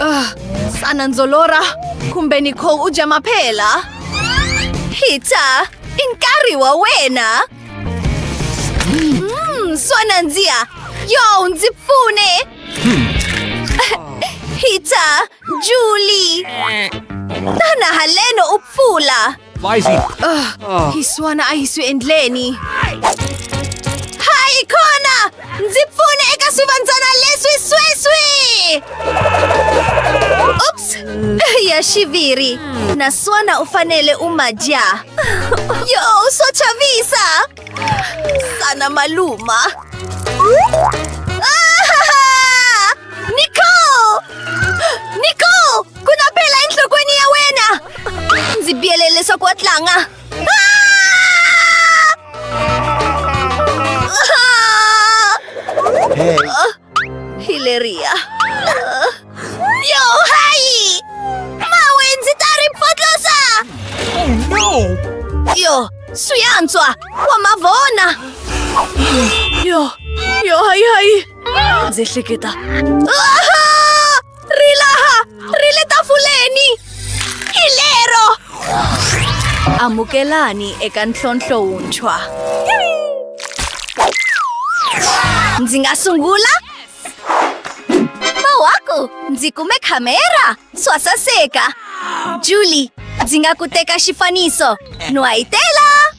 Uh, sana ndzo lorha kumbe Nicole u dya maphela. Peter, i nkarhi wa wena. Mm, swa nandziha. Yo, ndzi pfune. Peter, Julie. Tana haleno u pfula. Lizzie! Ugh, oh. hi suona a hi swi endleni. Hayi kona! Ndzi pfune eka swivandzana leswi sweswi! Oops! Ya xiviri. Naswona u fanele u ma dya. Yo, swo chavisa! Sana maluma. Ah! Nicole! Nicole! Ku na phela enhlokweni ya wena! Ndzi biyele leswaku wa tlanga. Hey. Ah! Hilaria. Ah! Yo, hayi! Mawe, ndzi ta ri potlosa! Oh, no! Yo, swi antswa! Wa ma vona! Yo, yo, hayi, hayi! Ndzi hleketa. Ah! Rilaha! Riletafuleni! Hi lero! Amukelani eka ntlhontlho wuntshwa. Ndzi nga sungula? Mawaku! Ndzi kume khamera! Swa saseka! Julie, ndzi nga ku teka xifaniso. Nwayitela!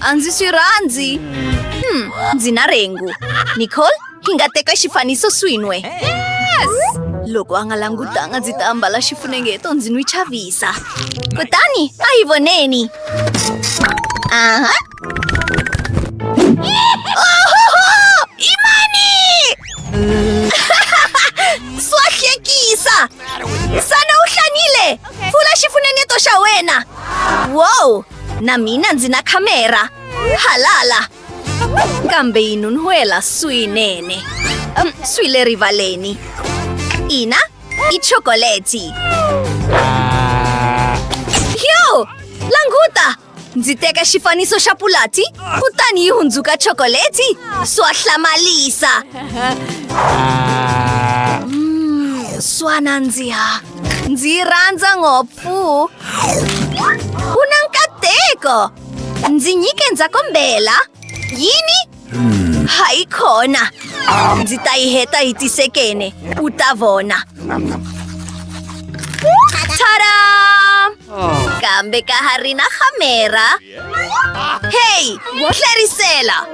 a ndzi swi rhandzi hmm, ndzi na rhengu nicole hi nga teka xifaniso swin'we loko a nga langutanga ndzi ta ambala xifunengeto ndzi n'wi chavisa kutani a yi voneni aha imani swa hlekisa sana u hlanile pfula xifunengeto xa wena wow Na mina ndzi na khamera. Halala! Kambe yi nun'hwela swinene. Um, swi le rivaleni. Ina, i chokoleti. Yo! Languta! Ndzi teka xifaniso xa pulati, kutani yi hundzuka chokoleti. Swa hlamalisa. Mm, swa nandziha. Ndzi yi rhandza ngopfu. Uh. Una nkateko! Ndzi nyike ndzakombela. Yini? Hmm. Hayi khona. Ndzi ta yi heta hi tisekene. U ta vona. Tada! Oh. Kambe ka ha ri na khamera. heyi wo tlherisela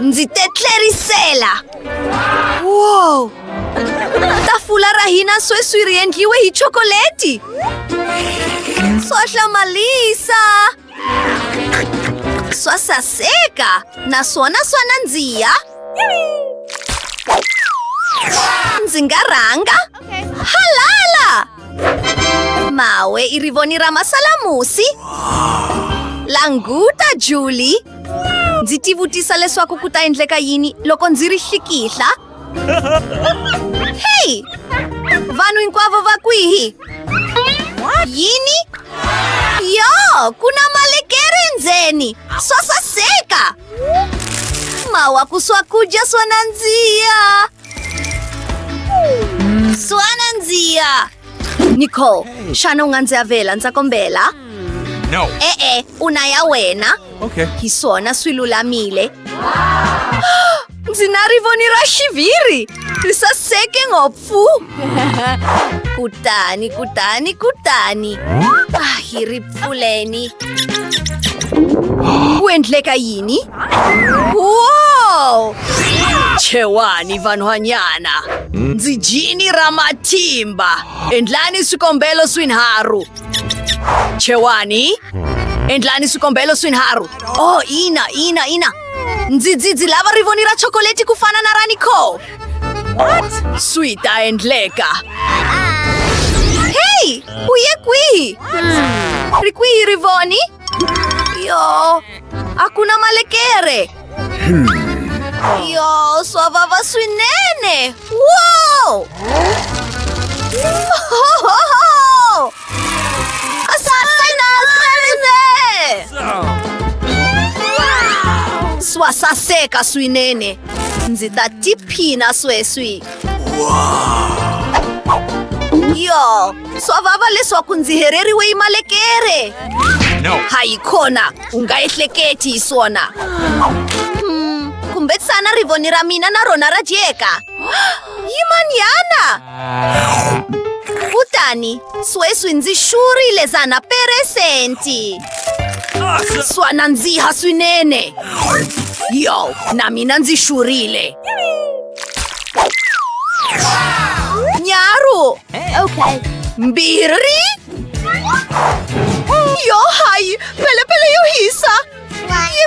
ndzi te tlherisela wow tafula ra hina sweswi ri endliwe hi chokoleti swa hlamalisa swa saseka naswona swa nandziha ndzi nga rhanga halala Mawe i rivoni ra masalamusi languta julie ndzi tivutisa leswaku ku ta endleka yini loko ndzi ri xikihla heyi vanhu hinkwavo va kwihi yini yo ku na malekere ndzeni swa saseka mawa ku swakudya swo nandziha Suana ndziya! Nicole, xana u nga ndzi avela ndza kombela? No. E-e, u na ya wena. Okay. Hi swona swi lulamile. Ndzi na rivoni ra xiviri! Ri saseke ngopfu! Kutani, kutani, kutani. Ah, hi ri Uleni. Ku endleka yini? Wow! Chewani vanhwanyana. Ndzi jini ra matimba. Endlani swikombelo swinharhu. Chewani. Endlani swikombelo swinharhu. Oh, ina, ina, ina. Ndzi ndzi ndzi lava rivoni ra chokoleti ku fana na ra Nicole. What? Swi ta endleka. Hey! U ye kwihi? Ri kwihi Rivoni? Yo, a ku na malekere. Yo, swa vava swinene. Wow! swa saseka swinene ndzi ta tiphina sweswi yo swa vava leswaku ndzi hereriwe yi malekere hayi khona u nga ehleketi hi swona hmm, kumbexana rivoni ra mina na rona ra dyeka yimanyana kutani sweswi ndzi xurhile zana peresenti swa nandziha swinene yo na mina ndzi xurhile nyaru okay mbirhi yo hayi pelepele yo hisa yi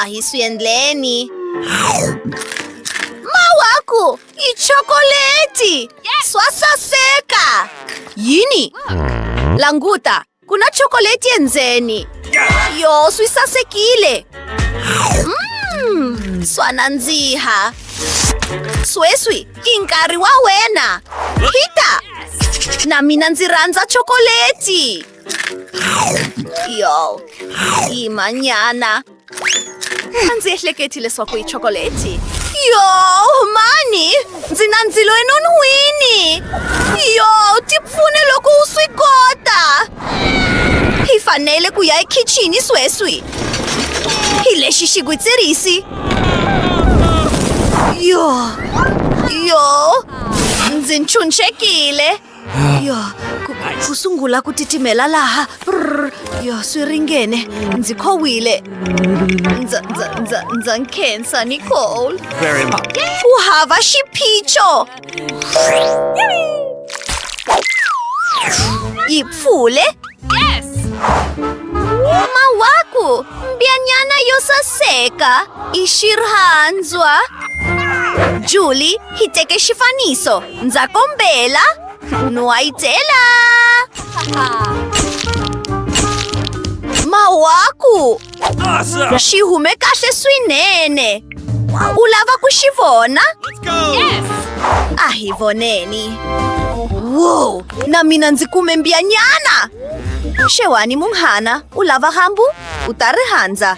Ahi swi endleni. Mawaku i chokoleti. Swa saseka. Yini? Languta, ku na chokoleti endzeni. Yo, swi sasekile. Mm, swa nandziha. Sweswi i nkarhi wa wena. Peter, na mina ndzi rhandza chokoleti. Yo. Y mañana. Ndzi ehleketi leswaku i chokoleti. Yo, mani! Ndzi na ndzilo enon'wini! Yo, ti pfune loko u swi kota! Hi fanele ku ya ekhixini sweswi. Hi lexi xigwitsirisi. Yo, yo, ndzi ntshunxekile. yo ku, ku sungula ku titimela laha Prrr. yo swi ringene ndzi khowile ndza ndza ndza ndza nkhensa nicole Very much. ku hava xiphiqo yi pfule mawaku mbyanyana yo saseka i xirhandzwa juli hi teke xifaniso Ndza kombela un'wayitela mawaku xi hume kahle swinene u lava ku xi vona a hi voneni wo na mina ndzi kume mbiyanyana xewani munghana u lava hambu u ta rihandza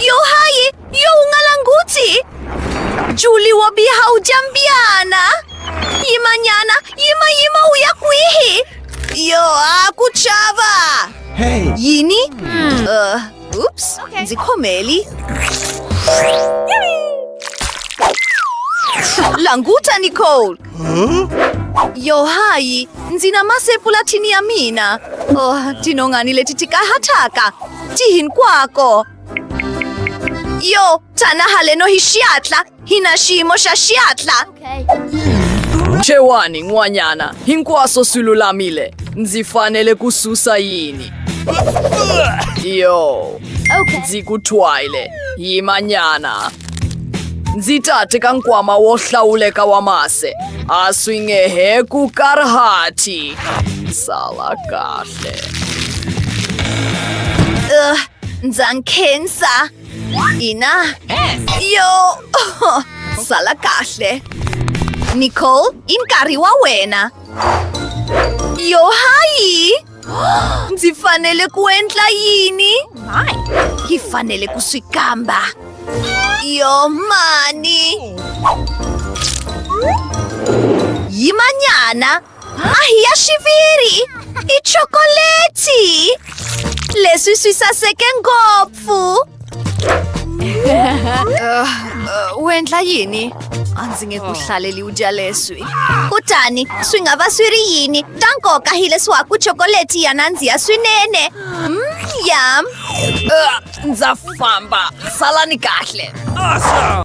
Yo hayi, yo u nga languti. Juli wa biha u jambiana. Yimanyana, yima yima u ya kwihi? Yo a ku chava. Hey. Yini? Uh, oops, ndzi khomeli. Languta Nicole. Yo hayi, ndzi na masepulathini ya mina. Oh, tinhongani leti ti kahataka. Ti hinkwako. Yo, tana haleno hi xiatla. Hi na xiyimo xa xiatla. Chewani n'wanyana, hinkwaswo swi lulamile. Ndzi fanele ku susa yini? Yo, ndzi ku thwayile. Yimanyana. ndzi ta teka nkwama wo hlawuleka wa mase a swi nge he ku karhati sala kahle uh, ndza nkhensa ina yo sala kahle nicole i nkarhi wa wena yo hayi Ndzi fanele ku endla yini? Hi fanele ku swi kamba. Yo mani! Yimanyana! Ahi ya xiviri! I chokoleti! Leswi swi saseke ngopfu! Fu! uh, uh, u endla yini? A ndzi nge ku oh. hlaleli u dya leswi. Kutani swi nga va swi ri yini ta nkoka hi leswaku chokoleti ya nandziha swinene. Mm, yum! Uh, ndza famba. Salani kahle. Awesome!